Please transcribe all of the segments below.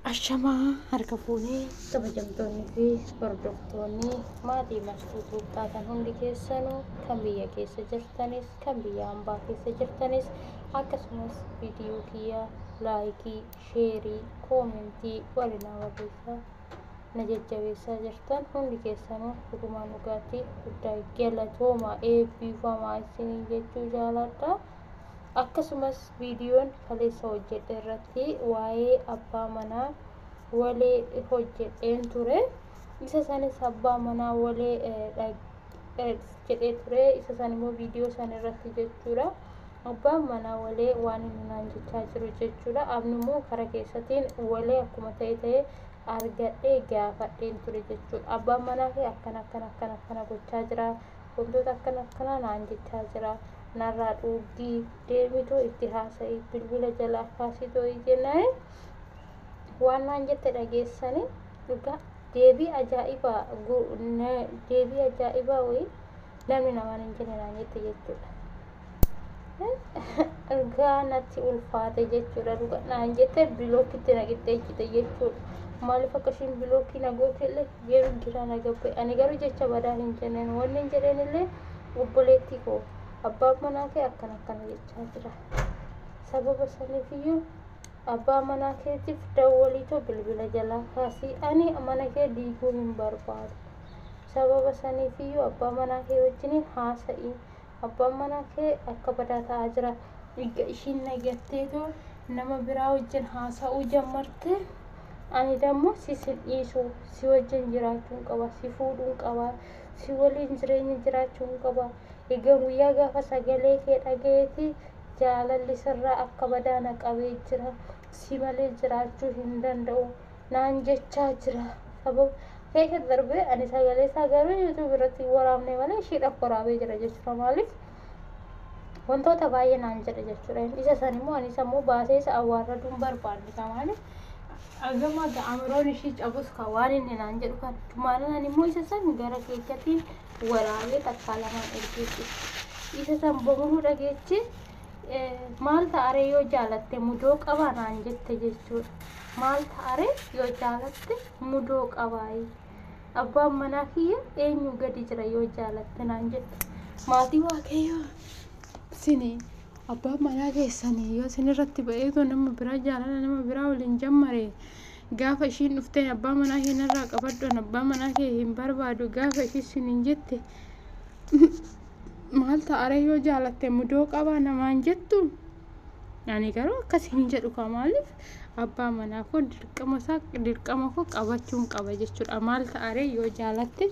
Ashamaa harka fuunee kabajamtoonni fi hordoftoonni maatii mastuu tuuttaatan hundi keessanuu kan biyya keessa jirtanis kan biyya ambaa keessa jirtanis akkasumas viidiyoo kiyya laayikii sheerii koomentii walina barreessaa na jajjabeessaa jirtan hundi keessanuu dhugumaan dhugaatti guddaa galatoomaa eebbifamaa isiniin jechuu jaaladha. Akkasumas viidiyoon kaleessa hojjedhe irratti waa'ee abbaa manaa walee hojjedheen ture. Isa sanis abbaa manaa walee jedhee ture. Isa san immoo viidiyoo san irratti jechuudha. Abbaan manaa walee waan inni naan jechaa jiru jechuudha. Abni immoo kara keessatiin walee akkuma ta'e ta'e argadhee gaafadheen ture jechuudha. Abbaan manaa kee akkana akkana akkana akkana gochaa jira. wantoota akkana akkanaa naan jechaa jira narraa dhuuggii deemitoo itti haasa'i bilbila jalaa kaasitoo jennaan waan naan jette dhageessanii dhugaa deebii ajaa'ibaa deebii ajaa'ibaa wayii namni namaan hin jenne naan jette jechuudha. ergaa natti ulfaate jechuudha dhuga naan jette bilookitti na qixxeechite jechuudha maaliif akka ishiin bilookii na goote illee yeroo gira na gabbe ani garuu jecha badaa hin jenneen wanni hin jedheen illee obboleettii koo abbaan manaa kee akkana akkana jechaa jira sababa saniif iyyuu abbaa manaa keetiif dawwaliitoo bilbila jalaa kaasii ani mana kee diiguu hin barbaadu sababa saniif iyyuu abbaa manaa kee wajjiniin haasa'ii abbaan manaa kee akka badaa ta'aa jira. Erga ishiin na gatteetu nama biraa wajjin haasa'uu jammarte. Ani dammo si sin dhiisu, si wajjin jiraachuun qaba, si fuudhuun qaba, si waliin jireenya jiraachuun qaba. Egaa guyyaa gaafa sagalee kee dhaga'eeti jaalalli sirraa akka badaa na qabee jira. Si malee jiraachuu hin danda'u. naan jechaa jira sababa keessa darbee ani sagalee isaa garuu yuutuubii irratti hin waraabne malee ishiidhaaf waraabee jira jechuudha maaliif wantoota baay'ee naan jedhe jechuudha isa san immoo ani isa immoo baasee isa awwaarraduu hin barbaanne isaa maaliif agama ga'amiroon ishii cabus ka waan inni naan jedhu kan maalaan immoo isa san gara keechatiin waraabee takkaa lamaan ergeessu isa san bamuu dhageechi maal ta'aree yoo jaalatte mudoo qabaa naan jette jechuudha. Maal ta'aree yoo jaalatte mudoo qabaayi. Abbaan manaa kiyya eenyuu gadi jira yoo jaalatte naan jette. Maatii waaqayyoo sini abbaan manaa keessanii yoo sin irratti ba'eetoo nama biraa jaalala nama biraa waliin jammare gaafa ishiin dhufteen abbaa manaa kee narraa qabadhuun abbaa manaa kee hin barbaadu gaafa ishii sin hin jette maal ta'aree yoo jaalatte mudoo qabaa namaan jettu. Ani garuu akkas hin jedhu kaa maaliif abbaa manaa koo dirqama isaa dirqama koo qabachuun qaba jechuudha. Maal ta'aree yoo jaalatte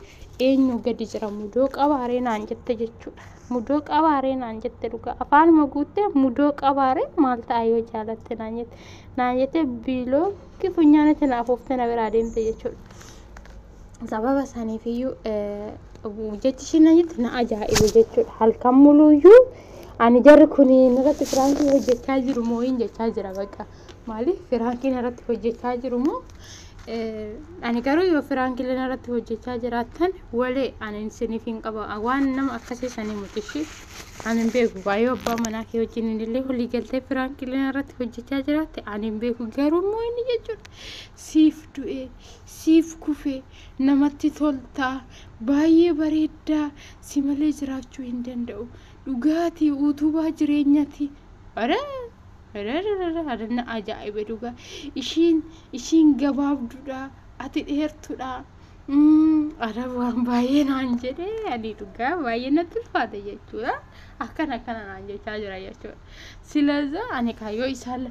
eenyu gadi jira mudoo qabaaree naan jette jechuudha. Mudoo qabaaree naan jette dhugaa afaanuma guuttee mudoo qabaaree maal ta'a yoo jaalatte naan jette naan jette biiloo kifunyaanitti naaf ooftee na biraa deemte jechuudha. sababa saniifiyyuu jechi ishiin na jette na ajaa'ibe jechuudha. Halkan muluuyyuu ani jarri kun irratti firaankii hojjechaa jiru moo hin jechaa jira bakka. Maaliif firaankiin irratti hojjechaa jiru moo ani garuu yoo firaankiin irratti hojjechaa jiraattan walee ani isiniif hin qaba waan nama akkasii sanii mutishii ani hin beeku baay'ee abbaa manaa kee wajjin illee walii galtee firaankiin irratti hojjechaa jiraatte ani hin beeku garuu immoo inni jechuudha siif du'ee siif kufe namatti tolta baay'ee bareedda si malee jiraachuu hin danda'u dhugaati uutubaa jireenyati ore Rararara, adanna ajaa'ibe dhugaa ishiin ishiin gabaabdudha ati dheertudha Mm, ara waan baay'ee naan jedhe ani dhugaa baay'ee natti ulfaate jechuudha akkan akkana naan jechaa jira jechuudha Silaza ani kaa yoo isaan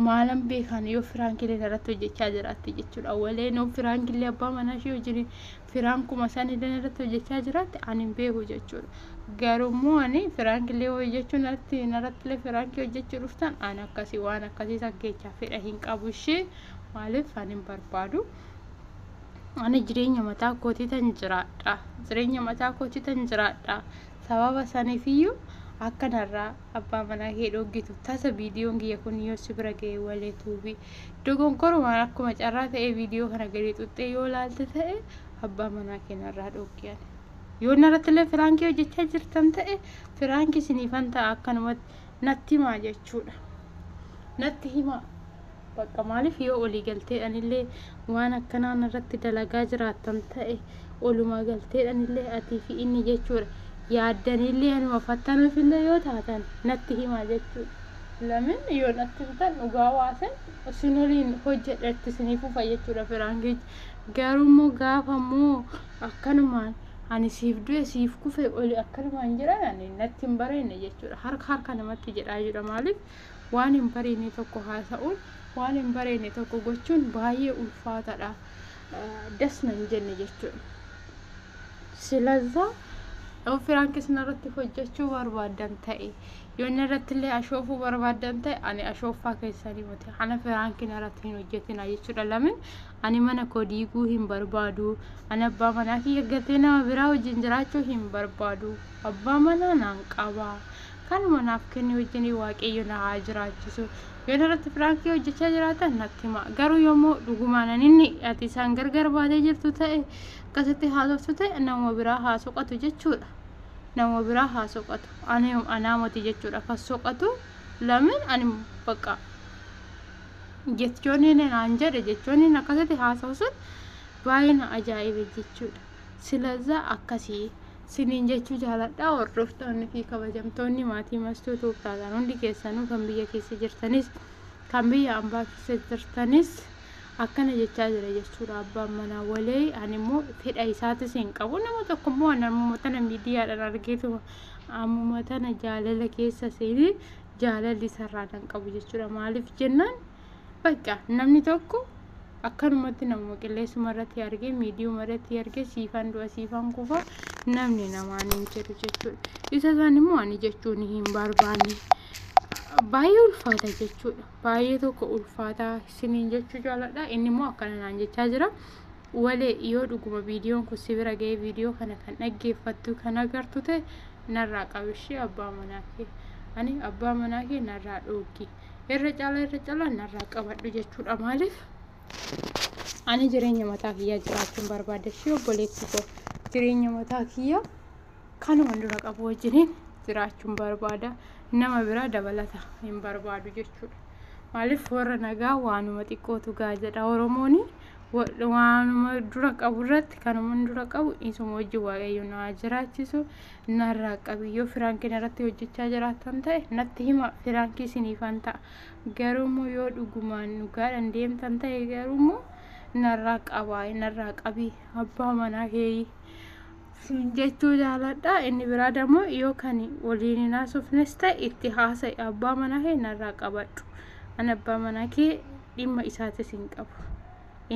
maalan beekaan yoo firaan kilee irratti hojjechaa jiraatte jechuudha. Walee noo firaan kilee abbaa manaa ishee wajjin firaan kuma isaan illee irratti hojjechaa jiraatte ani hin beeku jechuudha. Garuu immoo ani firaan kilee hojjechuu narratti narratti illee firaan kii hojjechuu dhuftan ani akkasii waan akkasii san keechaa fedha hin qabu ishee maaliif ani hin barbaadu. Ani jireenya mataa kootii tan jiraadha. Jireenya mataa kootii tan jiraadha. Sababa sanifiyyuu akka narraa abbaa manaa kee dhooggitu tasa viidiyoon kiyya kun yoo si bira ga'e walee tuubii. Dogonkorumaan akkuma carraa ta'ee viidiyoo kana gadi xuxxee yoo laalte ta'e abbaa manaa kee narraa dhooggi ani. Yoo narrattillee firaankii hojjechaa jirtan ta'e firaankii siniifan ta'a akkanumatti natti himaa jechuudha. Natti himaa. Baqqa maaliif yoo olii galteedhan illee waan akkanaa narratti dalagaa jiraattan ta'e olumaa galteedhan illee atii fi inni jechuudha yaaddan illee anuma fattanuuf illee yoo taatan natti himaa jechuudha. Lamin yoo natti himtan dhugaa waasan isin waliin hojjedha itti isinii fufa jechuudha firaankichi. Garuu immoo gaafa immoo akkanumaan ani siif du'e siif kufe oli akkanumaan jedhan ani natti hin bareenne jechuudha. Harka harka namatti jedhaa jedha maaliif Waan hin bareene tokko haasa'uun, waan hin bareene tokko gochuun baay'ee ulfaataadha. Das nan jenne jechuudha. Silazaa yoo firaankis narratti hojjechuu barbaadan ta'e yoo narratti illee ashoofuu barbaadan ta'e ani ashooffaa keessanii miti ana firaanki narratti hin hojjetina jechuudha lamin ani mana koo diiguu hin barbaadu ani abbaa manaa kiyya gatee nama biraa wajjin jiraachuu hin barbaadu abbaa manaa naan qabaa Kanuma naaf kenni wajjin waaqayyo na haa jiraachisu. Yoon irratti firaankii hojjechaa jiraatan natti hima. Garuu yommuu dhugumaan ani inni ati isaan gargar baatee jirtu ta'e akkasitti haasoftu ta'e nama biraa haa soqatu jechuudha. Nama biraa haa soqatu. Ani anaa moti jechuudha kan soqatu. Lamin ani baqa jechoonni inni naan jedhe jechoonni inni akkasitti haasa'u sun baay'ee na ajaa'ibe jechuudha. Silazaa akkasii siniin jechuu jaaladhaa hordoftoonni fi kabajamtoonni maatii mastuu tuubtaataan hundi keessanuu kan biyya keessa jirtanis kan biyya ambaa keessa jirtanis akkana jechaa jira jechuudha abbaan manaa walee ani immoo fedha isaatis hin qabu nama tokko immoo ani ammuma tana miidiyaadhaan argeetuma ammuma tana jaalala keessa seenee jaalalli isarraa kan qabu jechuudha maaliif jennaan Bakka namni tokko akkanumatti namuma qilleessuma irratti argee miidiyuma irratti argee siifan du'a siifan kufa namni namaan hin jedhu jechuudha. Isa isaan immoo ani jechuun hin barbaanne baay'ee ulfaata jechuudha. Baay'ee tokko ulfaataa isiniin jechuu jaaladha. Inni immoo akkana naan jechaa jira. Walee yoo dhuguma viidiyoon kun si bira ga'ee viidiyoo kana kan dhaggeeffattu kan agartu ta'e narraa qabishee abbaa manaa kee. Ani abbaa manaa kee narraa dhoogi. irra caalaa irra caalaa narraa qabadhu jechuudha maaliif ani jireenya mataa kiyyaa jiraachuun barbaada ishee obboleessi koo jireenya mataa kiyyaa kanuma dura qabu wajjiniin jiraachuun barbaada nama biraa dabalata hin barbaadu jechuudha maaliif warra nagaa waanuma xiqqootu gaa jedha oromooni waanuma dura qabu irratti kanuma dura qabu isuma wajjin waaqayyo naa jiraachisu narraa qabi yoo firaankiin irratti hojjechaa jiraattan ta'e natti hima firaankii siniifan ta'a garuu immoo yoo dhugumaan dhugaadhaan deemtan ta'e garuu immoo narraa qabaa narraa qabi abbaa manaa keeyii siin jechuu jaaladha inni biraa dammoo yoo kan waliin hin haasofnes ta'e itti haasa'i abbaa manaa kee narraa qabadhu an abbaa manaa kee dhimma isaatis hin qabu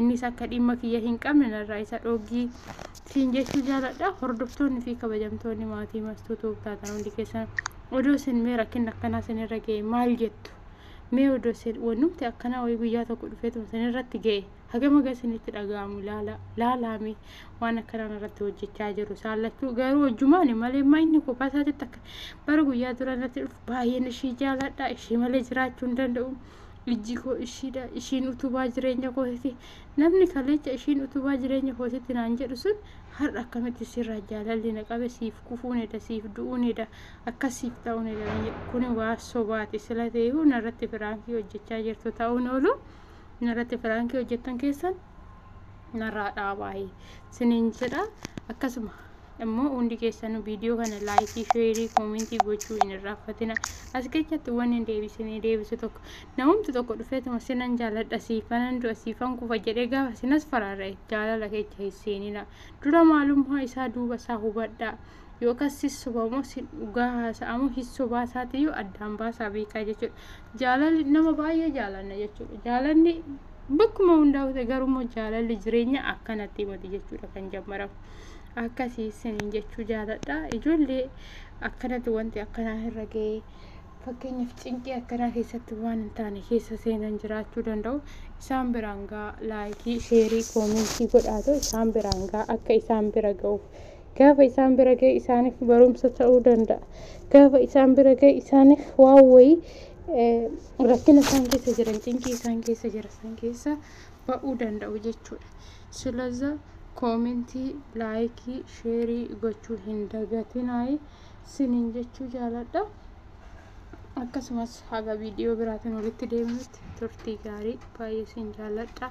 innis akka dhimma kiyya hin qabne narraa isa dhooggii siin jechuu jaaladha hordoftoonni fi kabajamtoonni maatii mastuu tuub taatan hundi keessan odoo isin mee rakkinni akkanaa isinirra ga'e maal jettu mee odoo isin wannumti akkanaa wayii guyyaa tokko dhufeetuma isinirratti ga'e hagama gaa isinitti dhaga'amu laala laalaame waan akkanaan irratti hojjechaa jiru saallachuu garuu hojjumaani malee maa inni kophaa isaatitti akka bara guyyaa dura irratti dhufu baay'een ishii jaaladha ishii malee jiraachuu hin danda'u Ijji koo ishiidha, ishiin utubaa jireenya kootiti. Namni kaleecha ishiin utubaa jireenya kootiti naan jedhu sun har'a akkamitti sirraa jaalalli na qabe siif kufuun eda siif du'uun eda akkas siif ta'uun eda naan jedhu kuni waa sobaati sila ta'eehu narratti firaankii hojjechaa jirtu ta'uun oolu narratti firaankii hojjettan keessan narraa dhaabaayi siniin jedha akkasuma immoo hundi keessanuu viidiyoo kana laayikii sheerii koomentii gochuu hin irraanfatina as keessatti waan hin deebisinee deebisu tokko namumti tokko dhufeetuma sinan jaaladha siifanan du'a siifan kufa jedhee gaafa sinas faraarra jaalala keessa hin seenina dura maalummaa isaa duuba isaa hubadhaa yookaan sissubamoo sin dhugaa haasa'amoo hissubaa isaatiyyuu addaan baasaa beekaa jechuudha. jaalalli nama baay'ee jaalanna jechuudha. Jaalanni bakkuma hundaa ta'e garuu jaalalli jireenya akkanatti mati jechuudha kan jammaramu. Akkasii isiniin jechuu jaaladha. Ijoollee akkanatti wanti akkanaa irra ga'ee fakkeenyaaf cinqii akkanaa keessatti waan hin taane keessa seenan jiraachuu danda'u. Isaan biraan gaa laayikii, sheerii, koomentii godhaatu isaan biraan gaa akka isaan bira ga'uuf Gaafa isaan bira gahe isaaniif barumsa ta'uu danda'a. Gaafa isaan bira gahe isaaniif waan wayii rakkina isaan keessa jiran, cinqii isaan keessa jiran san keessa ba'uu danda'u jechuudha. Silaza koomentii, laayikii, sheerii gochuu hin dagatinaayi siniin jechuu jaaladha. Akkasumas haga viidiyoo biraatiin walitti deebinutti turtii gaarii baay'ee siin jaaladha.